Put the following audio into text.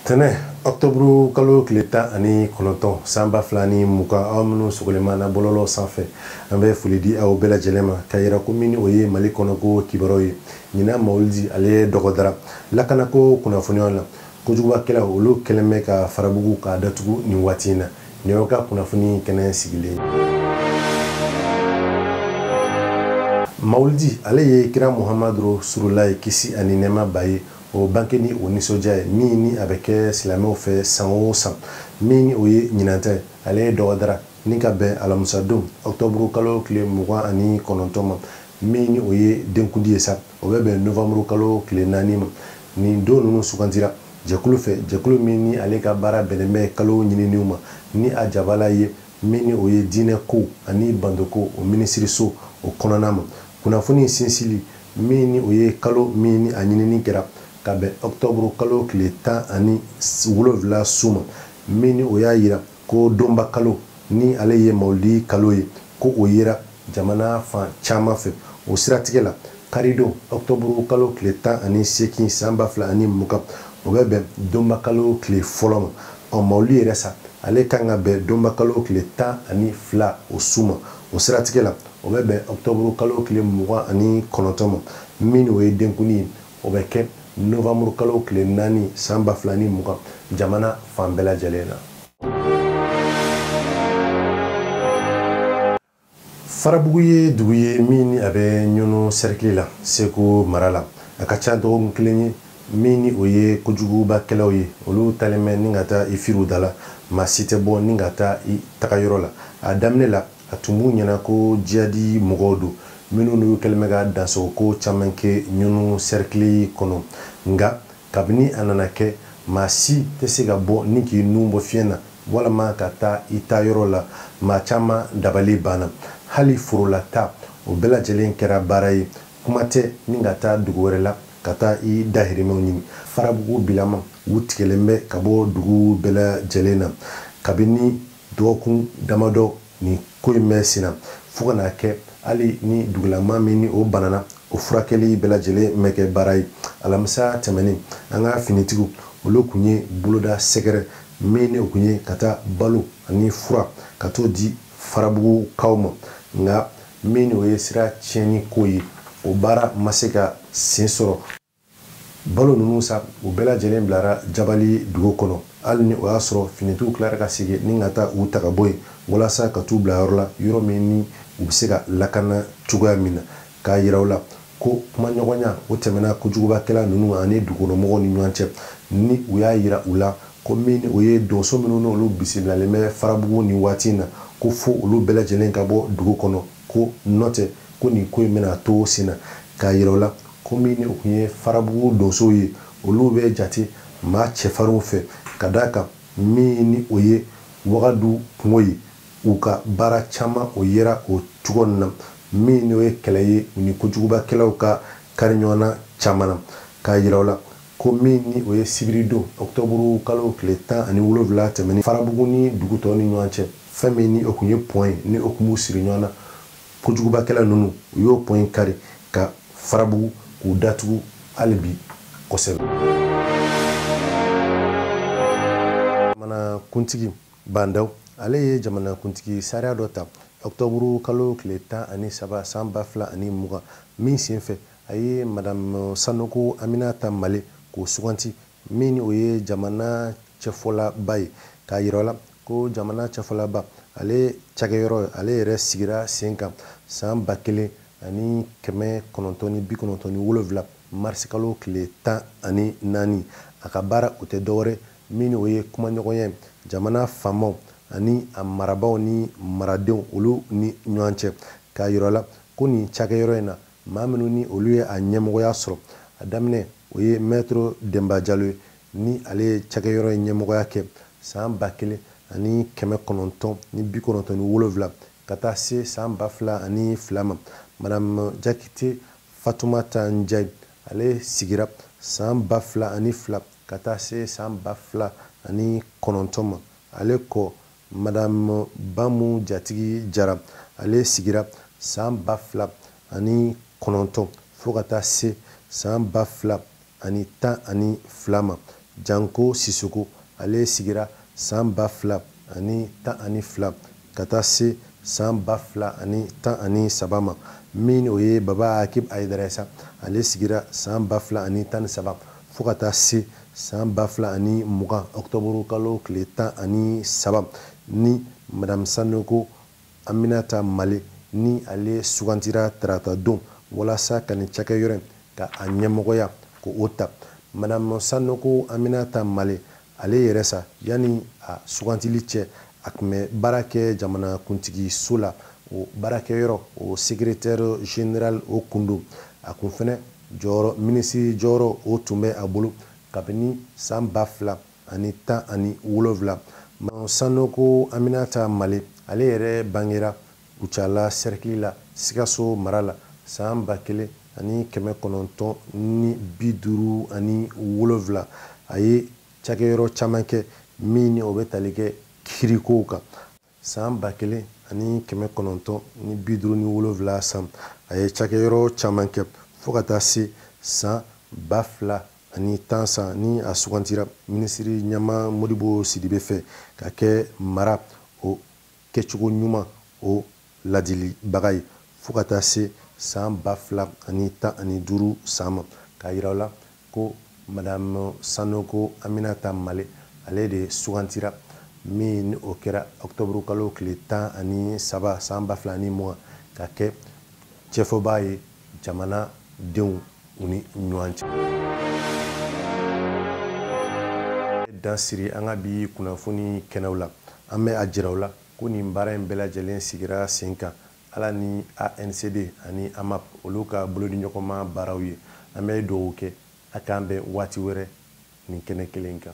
tɛnɛ ɔktɔburu kalo tile tan ani kɔnɔntɔn san ba fila ni mugan aw minnu sogolenma na bɔlɔlɔ sanfɛ an bɛ foli di aw bɛɛ lajɛlen ma ka yira ko min ni o ye mali kɔnɔko kibaruw ye ɲinan mawulidi ale dɔgɔdara lakanako kunnafoniyaw la Kojugubakɛlaw olu kɛlen bɛ ka Farabugu k'a datugu nin waati in na. Nin y'aw ka kunnafoni kɛnɛ sigilen ye. Mawulidi, ale ye kira Muhamadu Rasululahi kisi ani nɛɛma b'a ye, o banke ni o nisɔndiya ye, min ni a bɛ kɛ silamɛw fɛ san o san. Min ni o ye ɲinan ta ye, ale ye dɔgɔdara, ni ka bɛn alamusadon, ɔkutɔburukalo tile mugan ani kɔnɔntɔn ma, min ni o ye denkundi ye sa. o bɛ bɛn novembre kalo tile naani ma nin don ninnu sugantira jɛkulu fɛ jɛkulu min ni ale ka baara bɛnnen bɛ kalo ɲininiw ma ni a jabala ye min ni o ye diinɛ kow ani batoko o minisiriso o kɔnɔna ma kunnafoni sinsili min ni o ye kalo min ni a ɲinini kɛra ka bɛn octobre kalo tile tan ani wolonwula su ma min ni o y'a yira Ko donba kalo ni ale ye mawulidi kalo ye, ko o yera jamana fan caman fɛ. O siratigɛ la, karidon, ɔkutɔburu kalo tile tan ani seegin san ba fila ani mugan, o bɛ bɛn donba kalo tile fɔlɔ ma. Ɔ, mawulidi yɛrɛ sa, ale ka kan ka bɛn donba kalo tile tan ani fila o su ma. O siratigɛ la, o bɛ bɛn ɔkutɔburu kalo tile mugan ani kɔnɔntɔn ma, min o ye denkundi ye. o bɛ kɛ novembre kalo tile naani san ba fila ni mugan jamana fan bɛɛ lajɛlen na farabugu ye dugu ye min ni a bɛ ɲɔnɔ sɛrikili la segu mara la a ka ca dɔgɔkun kelen ye min ni o ye kojugubakɛlaw ye olu talen bɛ ni ka taa i firi u da la maa si tɛ bɔ ni ka taa i tagayɔrɔ la a daminɛ la A tun b'u ɲɛna ko jihadi mɔgɔw don, minnu n'u kɛlen bɛ ka dansago ko caman kɛ Ɲɔnɔ sɛrikili kɔnɔ. Nka, kabini a nana kɛ, maa si tɛ se ka bɔ ni k'i nun bɔ fiɲɛ na walama ka taa i taa yɔrɔ la, maa caman dabali banna. Hali forola taa, o bɛɛ lajɛlen kɛra baara ye, kuma tɛ ni ka taa dugu wɛrɛ la ka taa i dahirimɛw ɲini. Farabugu bilama, u tigɛlen bɛ ka bɔ dugu bɛɛ lajɛlen na, kabini. Dɔgɔkun damadɔ nin ko in bɛ senna, fo ka n'a kɛ hali ni dugulamaa min ni o banana, o furakɛli bɛɛ lajɛlen bɛ kɛ baara ye. Alamisa tɛmɛnen, an ka finitigiw, olu kun ye boloda sɛgɛrɛ min ni o kun ye ka taa balo ani fura ka t'o di Farabugukaw ma, nka min ni o ye sira tiɲɛni ko ye, o baara ma se ka sen sɔrɔ. Balo ninnu sa, u bɛɛ lajɛlen bilara Jabali dugu kɔnɔ, hali ni o y'a sɔrɔ finitigiw tilara ka segin ni ka taa u ta ka bɔ yen, walasa ka t'u bila yɔrɔ la, yɔrɔ min ni u bɛ se ka lakana cogoya min na. K'a yira u la ko kumaɲɔgɔnya, o tɛmɛna kojugubakɛla ninnu ani dugukɔnɔmɔgɔw ni ɲɔgɔn cɛ, ni u y'a yira u la ko min ni o ye donso minnu ni olu bisimilalen bɛ Farabugu nin waati in na, ko fo olu bɛɛ lajɛlen ka bɔ dugu kɔnɔ, ko nɔtɛ, ko nin ko in bɛna to sen na. K'a yira u la ko min ni o kun ye farabugu donsow ye olu bɛ jate maa cɛfarinw fɛ ka d'a kan min ni o ye wagadu kungo ye u ka baara caman o yera o cogo na min ni o ye kɛlɛ ye u ni kojugubakɛlaw ka kari ɲɔgɔn na caman na k'a yira u la ko min ni o ye sibiridon ɔkutɔburu kalo tile tan ani wolonwula tɛmɛnen farabugu ni dugu tɔw ni ɲɔgɔn cɛ fɛn min ni o kun ye pɔn ye ni o kun b'u siri ɲɔgɔn na kojugubakɛla ninnu u y'o pɔn in kari ka farabugu k'u datugu hali bi kosɛbɛ jamanakuntigi ba ndaw ale ye jamanakuntigi sariya dɔ ta ɔktɔburu kalo tile tan ani saba san ba fila ani mugan min senfɛ a ye madamu sanoko aminata male k'o suganti min ni o ye jamana cɛfɔlaba ye k'a yira la ko jamana cɛfɔlaba ale cakɛyɔrɔ ale yɛrɛ sigira sen kan san ba kelen ani kɛmɛ kɔnɔntɔn ni bi kɔnɔntɔn ni wolonwula marisikalo tile tan ani naani a ka baara o tɛ dɔwɛrɛ min ni o ye kumaɲɔgɔnya ye jamana faamaw ani a marabaaw ni maradenw olu ni ɲɔgɔn cɛ k'a yira la ko nin cakɛyɔrɔ in na Maa minnu ni olu ye a ɲɛmɔgɔya sɔrɔ, a daminɛ o ye Mɛtiri Denba Jalo ye, ni ale ye cakɛyɔrɔ in ɲɛmɔgɔya kɛ san ba kelen ani kɛmɛ kɔnɔntɔn ni bi kɔnɔntɔn ni wolonwula ka taa se san ba fila ani fila ma. Madamu Jakite Fatumata Njayi, ale sigira san ba fila ani fila ka taa se san ba fila ani kɔnɔntɔn ma, ale kɔ, Madamu Bamu Jatigi Jara, ale sigira san ba fila ani kɔnɔntɔn fo ka taa se san ba fila ani tan ani fila ma. Janko Sisoko, ale sigira san ba fila ani tan ani fila ka taa se san ba fila ani tan ani saba ma. Min ni o ye Baba Akib Ayidara ye sa, ale sigira san ba fila ani tan ni saba fo ka taa se san ba fila ani mugan ɔkutɔburu kalo tile tan ani saba ni madamu sanoko aminata male ni ale sugantira tarata don walasa ka nin cakɛyɔrɔ in ka a ɲɛmɔgɔya ko o ta madamu sanoko aminata male ale yɛrɛ sa yanni a sugantili cɛ a kun bɛ baara kɛ jamanakuntigi so la o baarakɛyɔrɔ o secrétaire général o kun don a kun fɛnɛ Jɔyɔrɔ minisiri jɔyɔrɔ o tun bɛ a bolo kabini san ba fila ani tan ani wolonwula. Madame Sanogo Aminata Male, ale yɛrɛ bangera Kucala sɛrikili la, Sikaso mara la, san ba kelen ani kɛmɛ kɔnɔntɔn ni bi duuru ani wolonwula. A ye cakɛyɔrɔ caman kɛ min ni o bɛ tali kɛ kiirikow kan. San ba kelen ani kɛmɛ kɔnɔntɔn ni bi duuru ni wolonwula san a ye cakɛyɔrɔ caman kɛ fo ka taa se san ba fila ani tan san ni a sugantira minisiri ɲɛmaa Modibo Sidibe fɛ ka kɛ mara o kɛcogo ɲuman o ladilibaga ye fo ka taa se san ba fila ani tan ani duuru san ma k'a yira o la ko madame Sanogo Aminata Male ale de sugantira min ni o kɛra octobre kalo tile tan ani saba san ba fila ni mugan ka kɛ cɛfɔbaa ye jamana denw u ni ɲɔgɔn cɛ. Dan siri an ka bi kunnafoni kɛnɛw la, an bɛ a jira aw la ko nin baara in bɛɛ lajɛlen sigira sen kan Ala ni ANCD ani AMAP olu ka bolodiɲɔgɔnma baaraw ye. An bɛ duwawu kɛ a k'an bɛn waati wɛrɛ nin kɛnɛ kelen in kan.